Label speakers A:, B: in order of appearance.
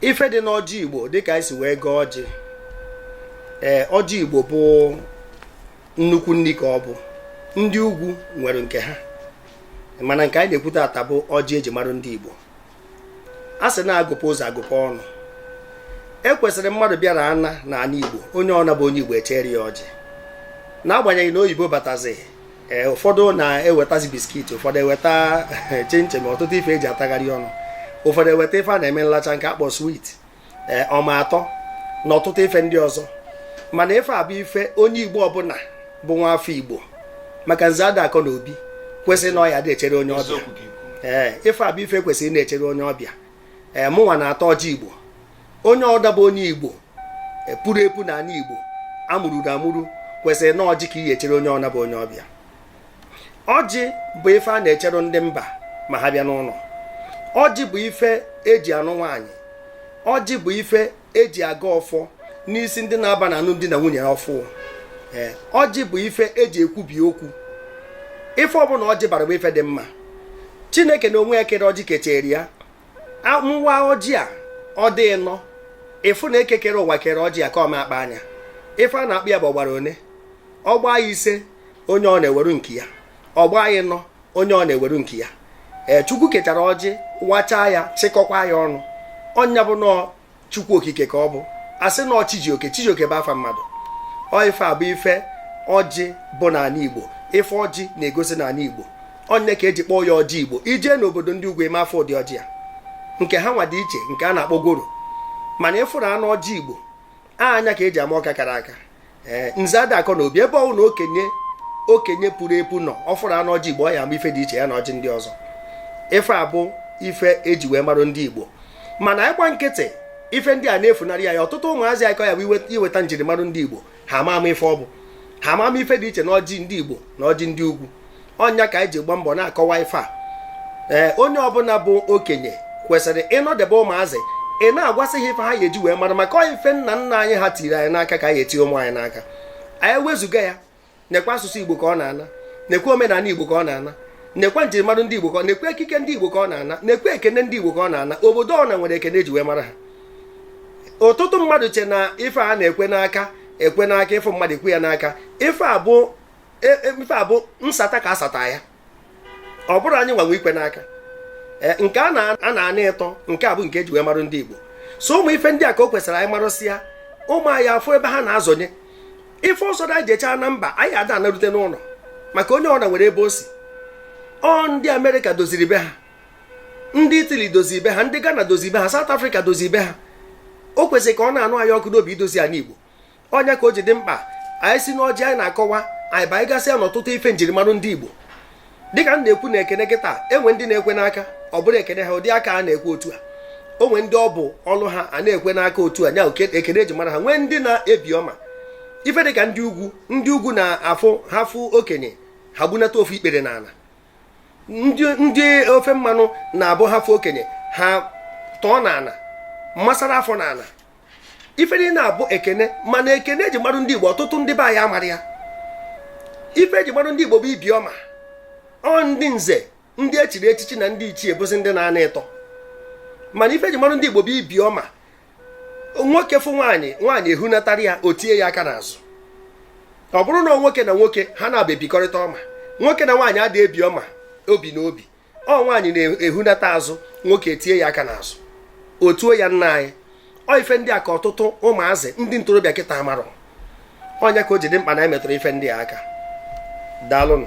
A: ife dị n'ọjị igbo dịka anyị si wee gọọ ọjị ee ọjị igbo bụ nnukwu nri ka ọ bụ ndị ugwu nwere nke ha mana nke anyị na-ekwute ata bụ ọjị eji mara ndị igbo a sị na agụpụ ụzọ agụpụ ọnụ e kwesịrị mmadụ bịara ana na ana igbo onye ọna bụ onye igbo echere ya ọjị n'agbanyeghị na oyibo batazi ee ụfọdụ na-ewetazi biskit ụfọdụ eweta chinchin ọtụtụ ife eji atagharị ọnụ ụfọdụ eweta ife a na-eme nlacha nke a kpọ swit ee eh, ọma atọ na ọtụtụ ife ndị ọzọ mana ife a bụ ife onye igbo ọbụla bụ nwa afọ igbo maka nze ada akọ na obi kwesịrị na ọ ya dị echere onye ọbịa ee eh, ife a bụ ife e kwesịrị ịna-echere onye ọbịa ee eh, mụnwa na-ata ọjị igbo onye ọna bụ onye igbo puru epu na ala igbo amụrụ amụrụ kwesịrị na ọjị ka ị ya echere onye ọna bụ onye ọbịa ọjị bụ ife a na-echere ndị mba ma ha bịa n'ụlọ ọjị bụ ife eji anụ nwaanyị ọjị bụ ife eji agọ ọfọ n'isi ndị na-aba na anụm di na nwunye ọfụ ọjị bụ ife eji ekwubi okwu ife ọbụla ọjị bara bụ ife dị mma chineke na onwe ya kere ọjị kechere ya nwa ọjị a ọ dị ịnọ ị fụ na eke kere ụwa kere ọjị a ka ọ ma akpa anya ife a na-akpọ ya bụ ọ gbara one ọ gbaa ise onye ọna eweru nke ya ọ gbaa ịnọ onye ọna eweru nke ya ee chukwu kechara ọjị wachaa ya chịkọkwa ya ọnụ ọ nya bụ na ọ chukwu okike ka ọ bụ a sị na ọ chi ji oke chijioke bụ afa mmadụ ọ ife a bụ ife ọjị bụ n'ala igbo ife ọjị na-egosi n'ala igbo ọ nya ka eji kpọọ ya ọjị igbo i jee n'obodo ndị ugwu ị ma afụ ụdị ọjị a nke ha nwa dị iche nke a na-akpọ goro mana ị fụrụ anụ ọjị igbo anya ka eji ama ọka kara aka ee nze ada akọ na obi ebe ọ wụ na okenye puru epu na ọ fụrụ anụ ọjị igbo ọ ya ama ife dị iche ya na ọjị ndị ọzọ ife a bụ ife eji wee marụ ndị igbo mana ị gba nkịtị ife ndị a na-efunarị ya ya ọtụtụ ụmụazị ka ọ ya abụ i weta njirimara ndị igbo ha ama ama ife ọ bụ ha ama ama ife dị iche na ọjị ndị igbo na ọjị ndị ugwu ọ nya ka anyị ji gba mbọ na-akọwa ife a ee onye ọbụla bụ okenye kwesịrị ịnọdebe ụmụazị ịna-agwasị ha ife ha ga-eji wee mara maka ọ ya ife nna nna anyị ha tiri anyị n'aka ka anyị etinye ụmụ anyị n'aka anyị wezụga ya nekwa asụsụ igbo ka ọ na-ana nekwa omenala igbo ka ọ na-ana nekwa njirimara ndị igbo ka ọ nekwa ekike ndị igbo ka ọ na-ana nekwa ekene ndị igbo ka ọ na-ana obodo ọna nwere ekene eji wee mara ha ọtụtụ mmadụ che na ife a na-ekwe n'aka ekwe n'aka ị fụ mmadụ ekwe ya n'aka ife a bụ e, e, ife a bụ nsata ka asata ya ọ bụrọ anyị nwa nwe ikwe n'aka e, nke a na-ana ịtọ nke a bụ nke eji wee marụ ndị Igbo so ụmụ ife ndị a ka o kwesịrị anyị marụsịa ụmụ anyị afụ ebe ha na-azọnye ife ọzọ anyị jechaa na mba anyị ada anarute n'ụlọ maka onye ọna nwere ebe o si ọ ndị Amerịka doziri be ha ndị itali doziri be ha ndị ghana doziri be ha south africa doziri be ha o kwesịrị ka ọ na-anụ anyị ọkụ n'obi idozi ala Igbo ọ nya ka o ji dị mkpa anyị si n'ọjị anyị na-akọwa anyị banyegasịa n'ọtụtụ ife njirimara ndị Igbo dịka m na-ekwu na ekene kịta e nwee ndị na-ekwe n'aka ọ bụrụ ekene ha ụdị aka a na-ekwe otu a o nwee ndị ọ bụ ọnụ ha a na-ekwe n'aka otu a nya ekene eji mara ha nwee ndị na-ebi ọma ife dịka ndị ugwu ndị ugwu na-abụ ha fụ okenye ha gbunata ofu ikpere n'ala ndị ofe mmanụ na-abụ ha fụ okenye ha tọọ n'ala masara afọ n'ala ife niile na-abụ ekene mana ekene eji marụ ndị Igbo ọtụtụ ndị be anyị amarọ ya ife eji marụ ndị Igbo bụ ibi ọma ọ ndị nze ndị echiri echichi na ndị ichie bụzi ndị na-ana ịtọ mana ife eji marụ ndị Igbo bụ ibi ọma nwoke fụ nwaanyị nwaanyị ehunatara ya o tie ya aka n'azụ ọ bụrụ na nwoke na nwoke ha naabọ ebikọrịta ọma nwoke na nwaanyị ada ebi ọma obi na obi ọ nwaanyị na-ehunata azụ nwoke etie ya aka n'azụ o tuo ya nna anyị ọ ife ndị a ka ọtụtụ ụmụazị ndị ntorobịa kịta amarọ ọ nya ka o ji dị mkpa na emetụrụ ife ndị a aka daalụnụ